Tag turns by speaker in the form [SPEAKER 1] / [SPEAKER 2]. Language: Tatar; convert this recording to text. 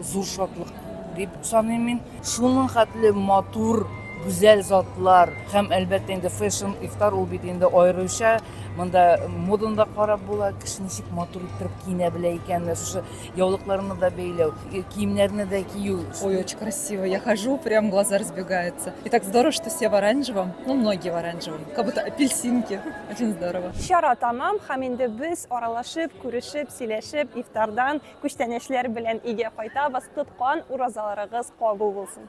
[SPEAKER 1] Зур шатлык дип саныйм мин. Шуның хәтле матур, гүзәл затлар һәм әлбәттә инде фэшн ифтар ул бит инде аеруча монда моданы да карап була кеше ничек матур иттереп киенә белә икән менә шушы яулыкларны да бәйләү э, киемнәрне дә кию ой очень красиво
[SPEAKER 2] я хожу прям глаза разбегаются и так здорово что все в оранжевом ну многие в оранжевом как будто апельсинки очень здорово чара тәмам һәм
[SPEAKER 3] инде без аралашып күрешеп сөйләшеп ифтардан Күчтәнәчләр белән өйгә кайтабыз. Тоткан уразаларыгыз кабул булсын.